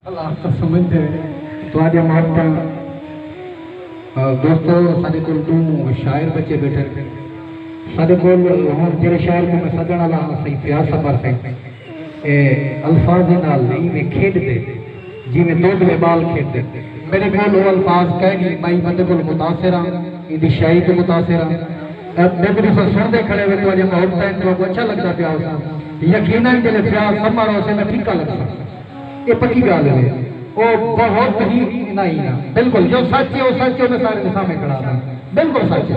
اللہ اختر سمجھ دے تواڈیاں محبتاں دوستو ساڈے کول دو شاعر بچے بیٹھے ہیں ساڈے کول ہن جڑے شاعر کو میں سدن والا ہاں سید فیاض صبر سے اے الفاظ نال نہیں میں کھیڈ دے جیویں دو بلے بال کھیڈدن۔ میڈے کول او الفاظ کائے نی، بئیں بندے کولوں متاثر آں، ایندی شاعری توں متاثر آں۔ میکوں تساں سنڑدے کھڑے ویکھو اجے ماحول تئیں تہاکوں اچھا لگدا پیا ہوساں، یقینا جیلے فیاض سماں رہوسے میں پھکا لگساں۔ اے پکی گالھ وے۔ او بہت ہی انہاں ہی نا۔ بلکل جو سچ اے او سچ اے او میں ساریں دے سامیں کھڑا ہاں۔ بلکل سچ اے۔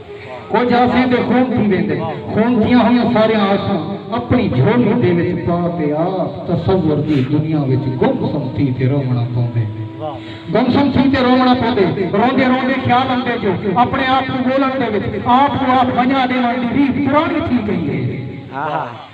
او جاسی تے خون تھی ویندے۔ خون تھیاں ہوئیاں ساریاں آساں اپݨی جھولی دے وچ پا تے آپ تصور دی دنیا وچ گم سم تھی تے رووݨا پوندے۔ گم سم تھی تے رووݨا پوندے۔ روندے روندے خیال آندے جو اپݨے آپ کوں ڳولݨ دے وچ آپ کوں آپ ونڄا ݙیوݨ دی ریت پراݨی تھی ڳئی ہے۔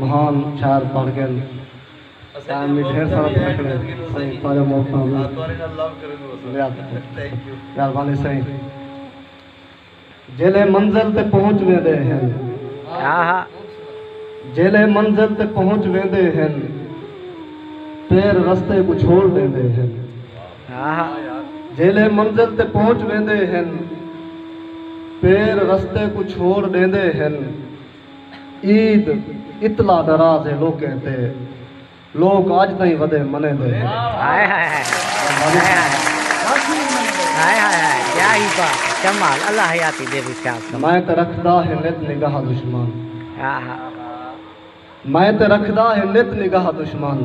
مہان شاعر بݨ ڳئن تاں امی ڈھیر سارا تھکݨے سئیں تہاݙا موت تاں امی یاد مہربانی سئیں جیلھے منزل تے پہنچ ویندے ہن جیلھے منزل تے پہنچ ویندے ہن پیر رستے کوں چھوڑ ݙیندے ہن جیلھے منزل تے پہنچ ویندے ہن پیر رستے کوں چھوڑ ݙیندے ہن عید اتلا ناراض ہے لوکیں تے لوک اج تئیں ودے منیندے میں تے رکھدا ہے نت نگاہ دشمن میں تے رکھدا ہے نت نگاہ دشمن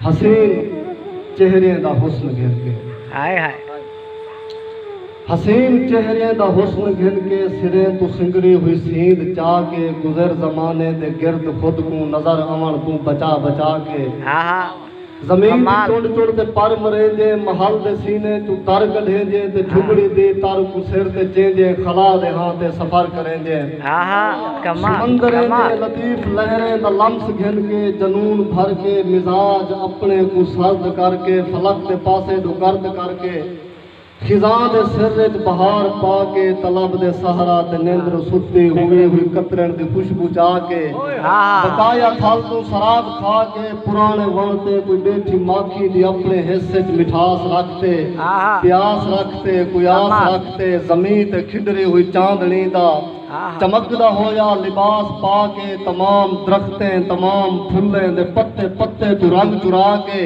حسین چہریاں دا حسن گھن کے ہائے ہائے حسین چہریاں دا حسن گھن کے سریں تو سنگری ہوئی سیند چا کے گزر زمانے دے گرد خود کو نظر آون کو بچا بچا کے زمین دی چڑ چڑ تے پر مریں جے محل دے سینے تو تر کڈھیں جے تے جھبڑی دی تر کو سر تے چیں جے خلا دے ہاں تے سفر کریں جے سمندر دے لطیف لہریں دا لمس گھن کے جنون بھر کے مزاج اپنے کوں سرد کر کے فلک دے پاسے ڈو گرد کر کے خزاں دے سر اچ بہار پا کے طلب دے صحرا تے نیندروں ستی ہوویں ہوئی کترن دی خوشبو چا کے بقایا تھل توں سراب کھا کے پرانے وݨ تے کوئی بیٹھی ماکھی دی اپنے حس اچ مٹھاس رکھ تے پیاس رکھ تے قیاس رکھ تے زمیں تے کھڈری ہوئی چاندنی دا چمکدا ہویا لباس پا کے تمام درختیں تمام پھلیں دے پتے پتے توں رنگ چرا کے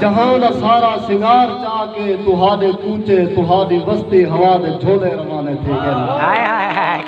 جہاں دا سارا سنگار چا کے تہاڈے کوچے تہاڈی وستی ہوا دے جھولے روانے تھی گن۔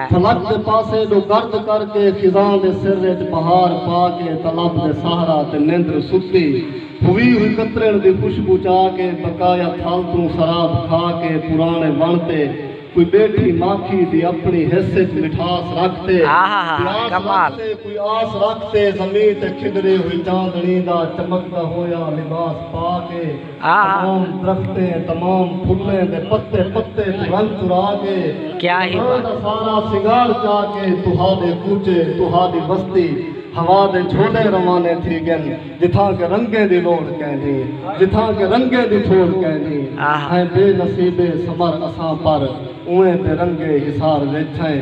فلک دے پاسے ݙو گرد کر کے خزاں دے سر اچ بہار پا کے طلب دے سہرا تے نندر ستی ہووی ہوئی کترݨ دی خوشبو چا کے بقایا تھل توں سراب کھا کے پراݨے وݨ تے کوئی ٻیٹھی ماکھی دی اپݨی حس اچ مٹھاس رکھ تے پیاس رکھ تے کوئی آس رکھ تے زمیں تے کھنڈرے ہوئی چاندݨی دا چمکدا ہویا لباس پا کے تمام درختیں تمام پھلیں دے پتے پتے کوں رنگ چرا کے جہاں دا سارا سنگار چا کے تہاڈے کوچے تہاڈی وستی ہوا دے جھولے روانے تھی گن جتھاں کہ رنگیں دی لوڑھ کیندی جتھاں کہ رنگیں دی تھوڑ کیندی ہیں بے نصیبے صبر اساں پر اوئیں بے رنگے حصار وچ ہیں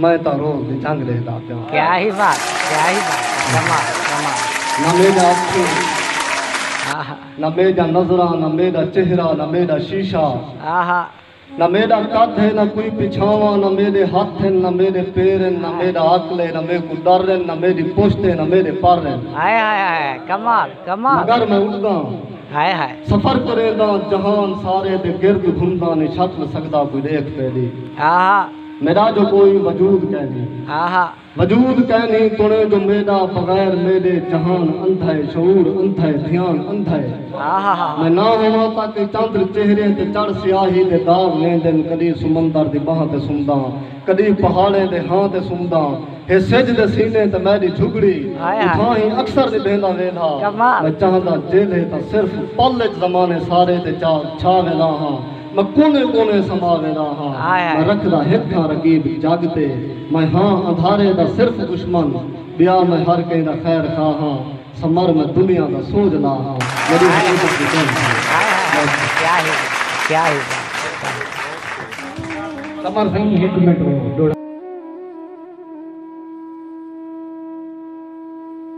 میں تاں روز دی جنگ ݙیہدا پیاں۔ کیا ہی بات ہے کیا ہی بات ہے کمال کمال نہ میڈا اکھوں آہا نہ میڈا نظراں نہ میڈا چہرہ نہ میڈا شیشہ آہا نہ میڈا قد ہے نہ کوئی پچھاواں نہ میڈے ہتھ ہن نہ میڈے پیر ہن نہ میڈا عقل ہے نہ میکوں ڈر ہن نہ میڈی پشت ہے نہ میڈے پر ہن ہائے ہائے ہائے کمال کمال مگر میں اڈداں ہائے ہائے سفر کرینداں جہان سارے دے گرد گھمداں نی چھٹ نہ سکدا کوئی ݙیکھ میڈی آہا میݙا جو کوئی وجود کینھی۔ وجود کینھی تݨیں جو میݙا بغیر میݙے جہان اندھئے شعور اندھئے دھیان اندھئے میں نہ ہوواں تاں کئی چندر چہریں تے چڑھ سیاہی دے داغ ویندن کݙی سمندر دی ٻانہہ تے سمداں کݙی پہاڑیں دے ہاں تے سمداں ہے سجھ دے سینے تے میݙی جھڳڑی اتھاں ہی اکثر نبھیندا ویندھا میں چاہندا جیلھے تاں صرف پل اچ زمانے سارے تے جا چھا وینداں ہاں میں کونے کونے سما ویندا ہا میں رکھدا ہک تھاں رقیب جگ تے میں ہاں اندھارے دا صرف دشمن ٻیا میں ہر کہیں دا خیر خواہ ہاں سمر میں دنیا دا سوجھ لا ہاں میݙی حقیقت دی کہن تھی